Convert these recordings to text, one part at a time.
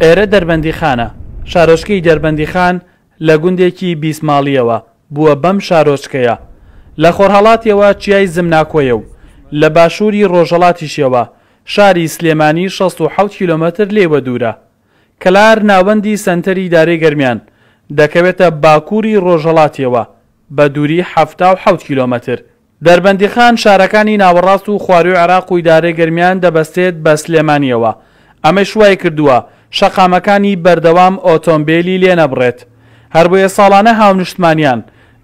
ئێرە دەربەندیخانە شارۆچکەی دەربەندیخان لە گوندێکی بیسماڵیەوە بووە بەم شارۆچکەیە لە خۆرهەڵاتیەوە چیای زمناکۆیە و لە باشووری ڕۆژەڵاتیشەوە شاری سلێمانی 16 کیلومتر لێوە دوورە کەلار ناوەندی سەنتەری دارێ گەرمیان دەکەوێتە باکووری ڕۆژەڵاتیەوە بە دووری 77 کیلومتر دەربەندیخان شارەکانی ناوەڕاست و خواروی عێراق و ئیدارەی گەرمیان دەبەستێت بە سلێمانیەوە، ئەمەیش وایکردووە شەقامەکانی بەردەوام ئۆتۆمبێلی لێنەبڕێت، هەربۆیە ساڵانە هاونشتمانیان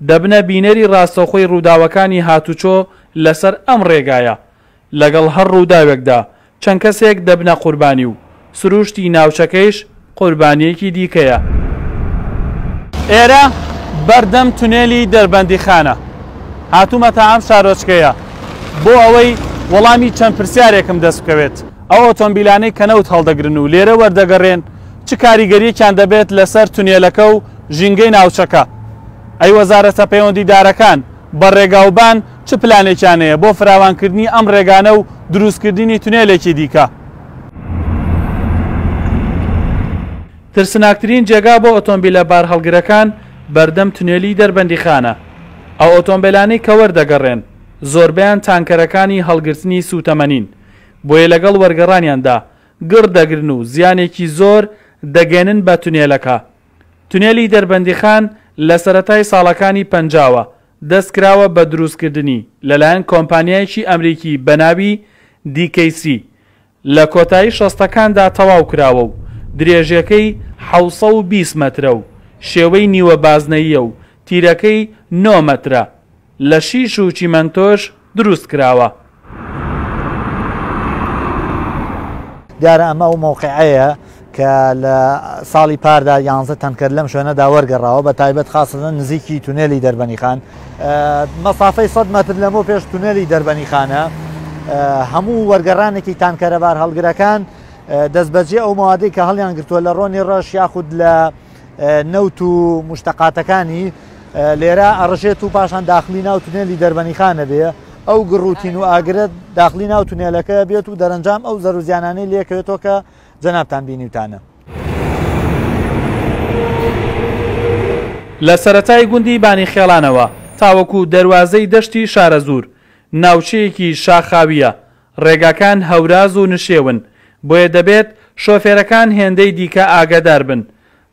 دەبنە بینەری راستەوخۆی رووداوەکانی هاتوچۆ لەسەر ئەم رێگایە، لەگەڵ هەر ڕووداوێکدا چەند کەسێک دەبنە قوربانی و سرووشتی ناوچەکەیش قوربانییەکی دیکەیە. ئێرە بەردەم تونێلی دەربەندیخانە هاتوومەتە ئەم شارۆچکەیە بۆ ئەوەی وەڵامی چەند پرسیارێکم دەست بکەوێت، ئەو ئۆتۆمبیلانەی کە نەوت هەڵدەگرن و لێرە وەردەگەڕێن چ کاریگەرییەکیان دەبێت لەسەر تونێلەکە و ژینگەی ناوچەکە؟ ئەی وەزارەتە پەیوەندیدارەکان بە ڕێگاوبان چ پلانێکیان هەیە بۆ فراوانکردنی ئەم ڕێگانە و دروستکردنی تونێلێکی دیکە؟ ترسناکترین جێگا بۆ ئۆتۆمبیلە بارهەڵگرەکان بەردەم تونێلی دەربەندیخانە. ئەو ئۆتۆمبێلانەی کە وەردەگەڕێن، زۆربەیان تانکەرەکانی هەڵگرتنی سووتەمەنین، بۆیە لەگەڵ وەرگەڕانیاندا گڕ دەگرن و زیانێکی زۆر دەگەیەنن بە تونێلەکە. تونێلی دەربەندیخان لە سەرەتای ساڵەکانی پەنجاوە، دەستکراوە بە دروستکردنی لەلایەن کۆمپانیایەکی ئەمریکی بەناوی DKC لە کۆتایی شەستەکاندا تەواوکراوە و درێژیەکەی حەوت سەد و بیست مەترە و شێوەی نیوە بازنەییە و تیرەکەی نۆ مەترە لە شیش و چیمەنتۆش دروست کراوە. دیارە ئەمە ئەو مەوقعەیە کە لە ساڵی پاردا یانزە تەنکەر لەم شوێنەدا وەرگەڕاوە بە تایبەت خاستە نزیکی تونێلی دەربەنی خان مەسافەی 100 مەتر لەمەو پێش تونێلی دەربەنی خانە هەموو وەرگەڕانێکی تانکەرەبار هەڵگرەکان دەستبەجێ ئەو موادەی کە هەڵیان گرتووە لە ڕۆنی ڕەش یاخود لە نەوت و موشتەقاتەکانی لێرە ئەڕژێت و پاشان داخلی ناو تونێلی دەربەنیخانە بێ ئەو گڕ و تین و ئاگرە داخلی ناو تونێلەکە بێت و دەرەنجام ئەو زەرزیانانەی لێکەوێتەوە کە جەنابان بینیوتانە. لە سەرەتای گوندی بانی خێڵانەوە تاوەکو دەروازەی دەشتی شارەزوور، ناوچەیەکی شاخاوییە، ڕێگاکان هەوراز و نشێون، بۆیە دەبێت شۆفێرەکان هێندەی دیکە ئاگادار بن.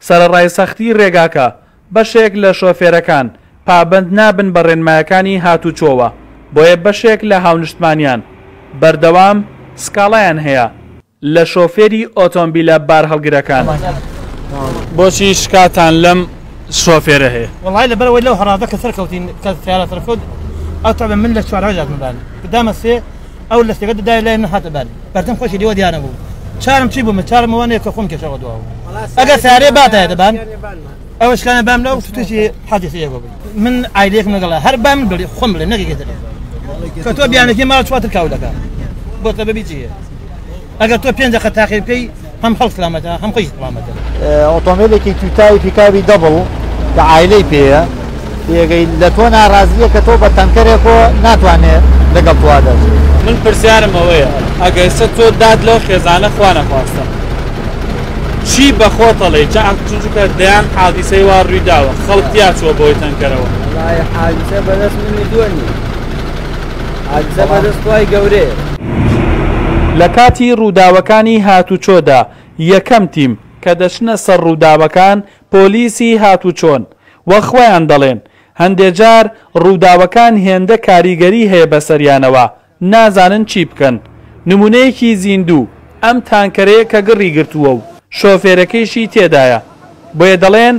سەرەڕای سەختیی ڕێگاکە، بەشێک لە شۆفێرەکان پابەند نابن بە ڕێنمایەکانی هاتوچۆوە، بۆیە بەشێک لە هاونیشتمانییان بەردەوام سکاڵایان هەیە. لە شۆفێری ئۆتۆمبیلە بارهەڵگرەکان. بۆچی شکاتان لەم شۆفێرە هەیە؟ وەڵاهی لە بەرەوەی لەو هەڕادە کە سەرکەوتین کە سیارە سەرکەوت ئەو تەبە من لە چوارەوەی داتمە بار دامە سێ ئەو لە سێگە دای لای من هاتە بار بەردەم خۆشی دیوە دیانە بوو چارم چی بوومە چارم وانەیە کە خۆم کێشەوە دواوە ئەگە سارێ باتایە دەبان ئەوە شکانە بام لەو شتێکی حەدیث ئێوە بوو من ئایلێک مەگەڵە هەر بام بڵێ خۆم بڵێ نەگەی دەڵێ کە تۆ بیانەکەی ماڵ چواتر کاو دەکە بۆ تە بەبی جیە ئەگەر تۆ پێنج دەقە تاقی بکەی هەم خەڵ سلامەتە هەم خۆی سلامەتە ئۆتۆمبیلێکی توتاوی پیکاوی دەبڵ کە ئایلەی پێەیە پێگەی لەتۆ نارازیە کە تۆ بە تەنکەرێک و ناتوانێ لەگەڵ تۆ دەژی. من پرسیارم ئەوەیە ئەگەرچە تۆ داد لەو خێزانە خوا نەخواستە چی بە خۆتەڵێی چ عەقد چونکە دەیان حادیسەی وا ڕوی داوە خەڵک تیا چووە بەوەی تەنکەرەوە. وەڵاهی حادیسە بەدەست من و تۆ نیە حادیسە بەدەست خوای گەورەیە. لە کاتی ڕووداوەکانی هاتوچۆدا یەکەم تیم کە دەچنە سەر ڕووداوەکان پۆلیسی هاتوچۆن وە خۆیان دەڵێن هەندێ جار ڕووداوەکان هێندە کاریگەری هەیە بەسەریانەوە نازانن چی بکەن نمونەیەکی زیندوو ئەم تانکەرەیە کە گڕی گرتووە و شۆفێرەکەیشی تێدایە بۆیە دەڵێن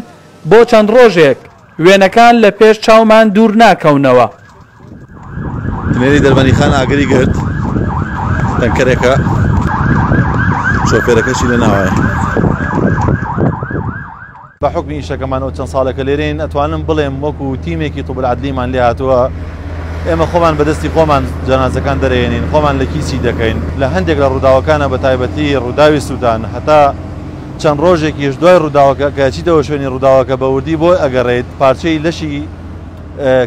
بۆ چەند ڕۆژێک وێنەکان لە پێش چاومان دوور ناکەونەوە. تونێلی دەربەنیخان ئاگری گرت تەنکەرێکە شۆفێرەکەشی لە ناوایە بە حکمی ئیشەکەمانەوە چەند ساڵێکە لێرین ئەتوانم بڵێم وەکو تیمێکی توبرعادلیمان لێ هاتووە ئێمە خۆمان بەدەستی خۆمان جانازەکان دەرێنین خۆمان لە کیسی دەکەین لە هەندێک لە ڕووداوەکانە بە تایبەتی ڕووداوی سوودان هەتا چەند ڕۆژێکیش دوای ڕووداوەکە کەچیتەوە شوێنی ڕووداوەکە بەوردی بۆی ئەگەڕێیت پارچەی لەشی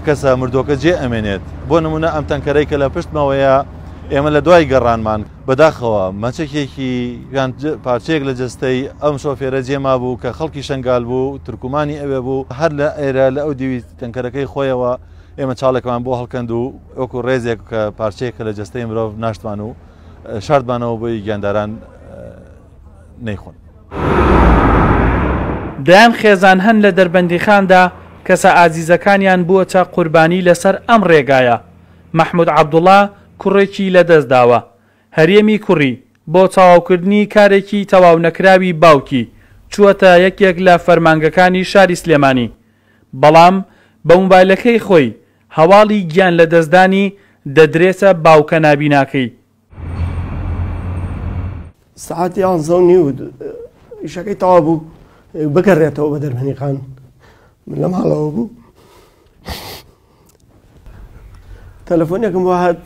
کەسە مردووەکە جێ ئەمێنێت، بۆ نموونە ئەم تەنکەرەی کە لە پشتمەوەیە ئێمە لە دوای گەڕانمان، بەداخەوە مەچەکێکی یان پارچەیەک لە جەستەی ئەم شۆفێرە جێ مابوو کە خەڵکی شەنگال بوو، تورکمانی ئەوێ بوو، هەر لە ئێرە لە ئەو دیوی تەنکەرەکەی خۆیەوە ئێمە چاڵێکمان بۆ هەڵکەند و وەکو ڕێزێک پارچەیەک لە جەستەی مرۆڤ ناشتمان و شاردمانەوە بۆی گیانداران نەیخۆن. دەیان خێزان هەن لە دەربەندیخاندا کەسە ئازیزەکانیان بووەتە قوربانی لەسەر ئەم ڕێگایە، مەحمود عەبدوڵا کوڕێکی لەدەستداوە، هەرێمی کوڕی، بۆ تەواوکردنی کارێکی تەواونەکراوی باوکی، چووەتە یەکێک لە فەرمانگەکانی شاری سلێمانی، بەڵام بە موبایلەکەی خۆی هەواڵی گیانلەدەستدانی دەدرێتە باوکە نابیناکەی، سعات یانزە و نیو ئیشەکەی تەوا بوو بگەڕێتەوە بە دەرمەنیقان لە ماڵەوە بوو تەلەفۆنێکم بۆ هات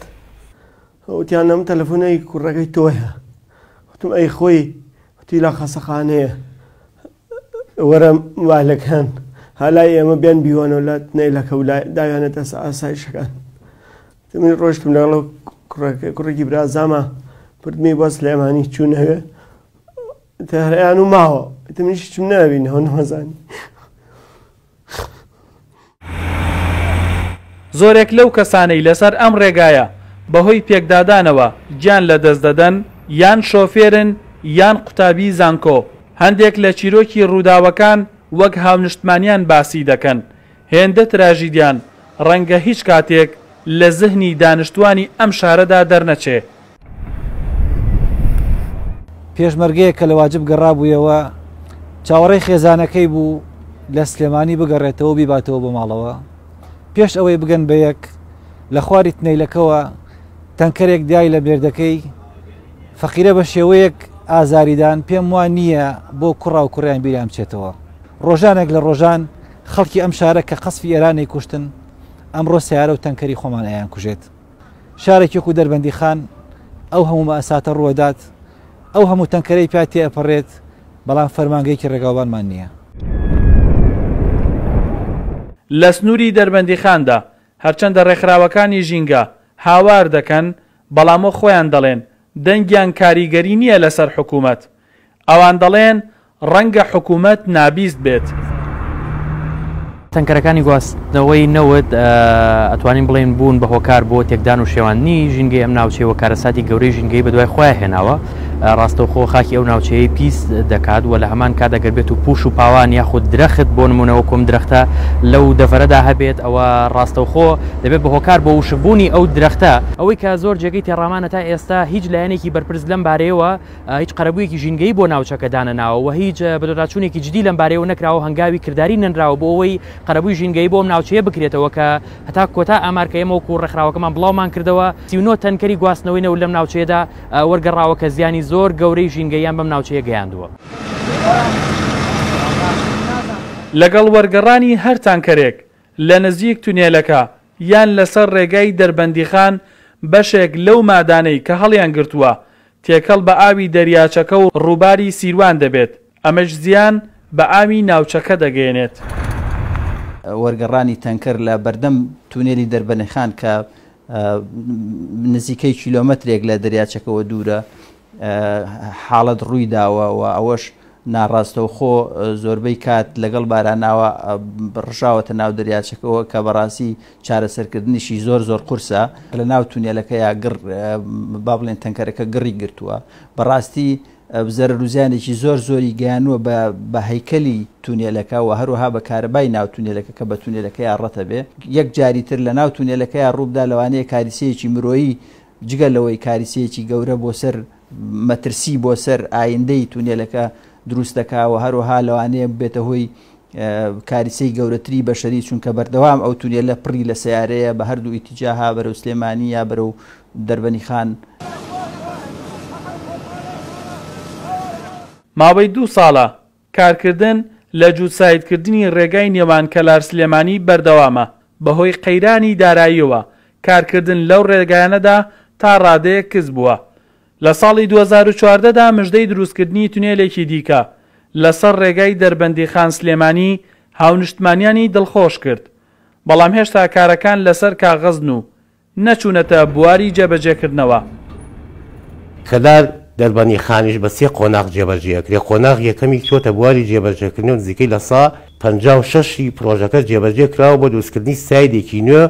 وتیان ئەم تەلەفۆنەی کوڕەکەی تۆیە وتم ئەی خۆی وتی لە خەسەخانەیە وەرە والەکان هەلای ئێمە بێن بیوانەوە لە نەیلەکە و داوێنێتە ئاسایشەکان من ڕۆشتم لەگەڵ کوڕێکی برازاما پردمی بۆ سلێمانی چوون هەوێ تەهرەیان و ماوە منیش چم ناوین هەو نەمەزانی زۆرێک لەو کەسانەی لەسەر ئەم ڕێگایە بەهۆی پێکدادانەوە گیان لەدەست دەدەن یان شۆفێرن یان قوتابی زانکۆ هەندێک لە چیرۆکی ڕووداوەکان وەک هاونشتمانیان باسی دەکەن هێندە تراژیدیان ڕەنگە هیچ کاتێک لە زهنی دانشتوانی ئەم شارەدا دەرنەچێ. پێشمەرگەیەک کە لە واجب گەڕابوویەوە، چاوەڕێی خێزانەکەی بوو لە سلێمانی بگەڕێتەوە و بیباتەوە بۆ ماڵەوە. پێش ئەوەی بگەن بە یەک، لە خواری تنەیلەکەوە تەنکەرێک دای لە مێردەکەی، فەقیرە بە شێوەیەک ئازاریدان، پێم وا نییە بۆ کوڕا و کوڕیان بیریان بچێتەوە. ڕۆژانێک لە ڕۆژان، خەڵکی ئەم شارە کە قەسفی ئێرانەی کوشتن ئەمڕۆ سەیارە و تەنکەری خۆمان ئەیان کوژێت شارێک وەکو دەربەندی خان ئەو هەموو مەئەساتە ڕووەدات ئەو هەموو تەنکەرەی پیا تێ ئەپەڕێت بەڵام فەرمانگەیەکی ڕێگاوبانمان نییە. لە سنووری دەربەندیخاندا هەرچەندە ڕێکخراوەکانی ژینگە هاوار دەکەن، بەڵام وەک خۆیان دەڵێن دەنگیان کاریگەری نییە لەسەر حکوومەت، ئەوان دەڵێن ڕەنگە حکومەت نابیست بێت. تەنکەرەکانی گواستنەوەی نەوت ئەتوانین بڵێین بوون بە هۆکار بۆ تێکدان و شێواندنی ژینگەی ئەم ناوچەیە و کارەساتی گەورەی ژینگەیی بەدوای خۆیان هێناوە. ڕاستەوخۆ خاکی ئەو ناوچەیەی پیس دەکات و لە هەمان کات ئەگەر بێت و پوش و پاوان یاخود درەخت بۆ نموونە وەکو ئەم درەختە لەو دەڤەرەدا هەبێت ئەوە ڕاستەوخۆ دەبێت بە هۆکار بۆ وشکبوونی ئەو درەختە. ئەوەی کە زۆر جێگەی تێڕامانە تا ئێستا هیچ لایەنێکی بەرپرس لەم بارەیەوە هیچ قەرەبوویەکی ژینگەیی بۆ ناوچەکە دانەناوە و هیچ بەدواداچوونێکی جدی لەم بارەیەوە نەکراوە و هەنگاوی کرداری نەنراوە بۆ ئەوەی قەرەبووی ژینگەیی بۆ ئەم ناوچەیە بکرێتەوە کە هەتا کۆتا ئامار کە ئێمە وەکوو ڕێکخراوەکەمان بڵاومان کردەوە سی و نۆ تەنکەری گواستنەوەی نەوت لەم ناوچەیەدا وەرگەڕاوە کە زیانی زۆر گەورەی ژینگەییان بەم ناوچەیە گەیاندووە. لەگەڵ وەرگەڕانی هەر تانکەرێک لە نزیک تونێلەکە یان لەسەر ڕێگای دەربەندیخان بەشێک لەو مادانەی کە هەڵیانگرتووە تێکەڵ بە ئاوی دەریاچەکە و ڕووباری سیروان دەبێت، ئەمەش زیان بە ئاوی ناوچەکە دەگەیەنێت. وەرگەڕانی تەنکەر لە بەردەم تونێلی دەربەنیخان کە نزیکەی کیلۆمەترێک لە دەریاچەکەوە دوورە، حاڵەت ڕوویداوە و ئەوەش ناڕاستەوخۆ زۆربەی کات لەگەڵ باراناوە ڕژاوەتە ناو دەریاچەکەوە کە بەڕاستی چارەسەرکردنیشی زۆر زۆر قورسە لە ناو تونێلەکە یا گڕ با بڵێن تەنکەرەکە گڕی گرتووە بەڕاستی زەرەر و زیانێکی زۆر زۆری گەیانووە بە بە هەیکەلی تونێلەکە و هەروەها بە کارەبای ناو تونێلەکە کە بە تونێلەکەیا ڕەتە بێ یەک جاری تر لە ناو تونێلەکەیا ڕووبدا لەوانەیە کاریسەیەکی مرۆیی جگە لەوەی کاریسەیەکی گەورە بۆ سەر مەترسی بۆ سەر ئایندەی تونێلەکە دروست دەکا و هەروەها لەوانەیە ببێتە هۆی کاریسەی گەورەتری بەشەری چونکە بەردەوام ئەو تونێلە پڕی لە سەیارەیە بە هەردوو ئیتیجاها بەرەو سلێمانی یا بەرەو دەربەنی خان ماوەی دوو ساڵە کارکردن لە جووتسایدکردنی ڕێگای نێوان کەلار سلێمانی بەردەوامە، بەهۆی قەیرانی داراییەوە کارکردن لەو ڕێگایانەدا تا ڕادەیەک کز بووە، لە ساڵی دوو هەزار و چواردە دا مژدەی دروستکردنی تونێلێکی دیکە لەسەر ڕێگای دەربەندیخان سلێمانی هاونشتمانیانی دڵخۆش کرد، بەڵام هێشتا کارەکان لەسەر کاغەزن و نەچوونەتە بواری جێبەجێکردنەوە. کەلار دەربەندیخانیش بە سێ قۆناغ جێبەجێ ئەکرێت، قۆناغی یەکەمی چووەتە بواری جێبەجێکردنی و نزیکەی لە سە پەنجا و شەش ی پرۆژەکە جێبەجێ کراوە بۆ دروستکردنی سایدێکی نوێ،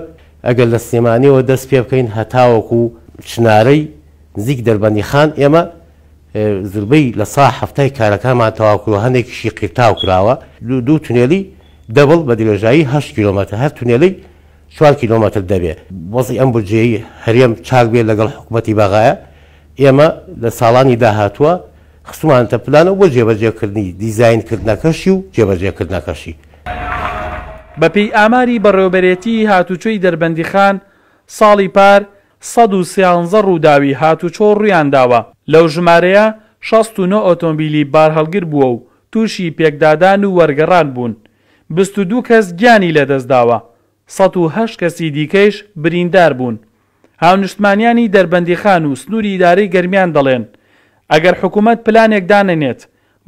ئەگەر لە سلێمانییەوە دەست پێ بکەین هەتاوەکو چنارەی نزیک دەربەندیخان ئێمە زوربەی لە سە حەفتا ی کارەکانمان تەواو کردووە، هەندێکیشی قیرتاو کراوە، دوو تونێلی دەبڵ بە درێژایی هەشت کیلۆمەتر هەر تونێلەی چوار کیلۆمەتر دەبێ وەزعی ئەم بودجەی هەرێم چاک بێ لەگەڵ حکومەتی بەغایە ئێمە لە ساڵانی داهاتووە خستومانەتە پلانەوە بۆ جێبەجێکردنی دیزاین کردنەکەشی و جێبەجێکردنەکەشی. بەپێی ئاماری بەڕێوەبەرێتیی هاتووچۆی دەربەندیخان، ساڵی پار سەد و سیانزە ڕووداوی هاتووچۆ ڕوویانداوە، لەو ژمارەیە شەست و نۆ ئۆتۆمبیلی بارهەڵگر بووە و تووشی پێکدادان و وەرگەڕان بوون، بیست و دوو کەس گیانی لەدەستداوە، سەد و هەشت کەسی دیکەیش برینداربوون. هاونیشتمانییانی دەربەندیخان و سنووری ئیدارەی گەرمیان دەڵێن، ئەگەر حکوومەت پلانێک دانەنێت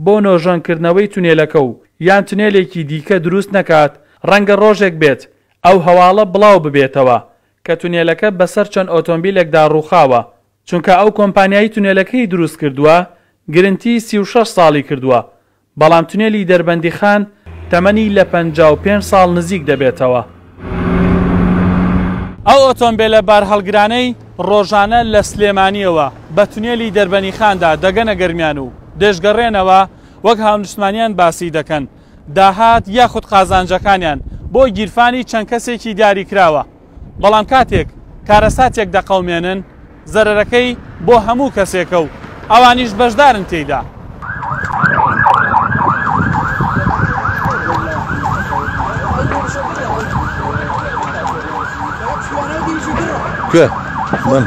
بۆ نۆژەنکردنەوەی تونێلەکە و یان تونێلێکی دیکە دروست نەکات، ڕەنگە ڕۆژێک بێت ئەو هەواڵە بڵاو ببێتەوە کە تونێلەکە بەسەر چەند ئۆتۆمبیلێکدا ڕووخاوە، چونکە ئەو کۆمپانیای تونێلەکەی دروست کردووە گرنتی سی و شەش ساڵی کردووە بەڵام تونێلی دەربەندیخان تەمەنی لە پەنجا و پێنج ساڵ نزیک دەبێتەوە. ئەو ئۆتۆمبێلە بارهەڵگرانەی ڕۆژانە لە سلێمانییەوە بە تونێلی دەربەنیخاندا دەگەنە گەرمیان و دەیشگەڕێنەوە، وەک هاونیشتمانیان باسی دەکەن، داهات یاخود قازانجەکانیان بۆ گیرفانی چەند کەسێکی دیاریکراوە. بەڵام کاتێک کارەساتێک دەقەومێنن زەرەرەکەی بۆ هەموو کەسێکە و ئەوانیش بەشدارن تێیدا. Good. Good.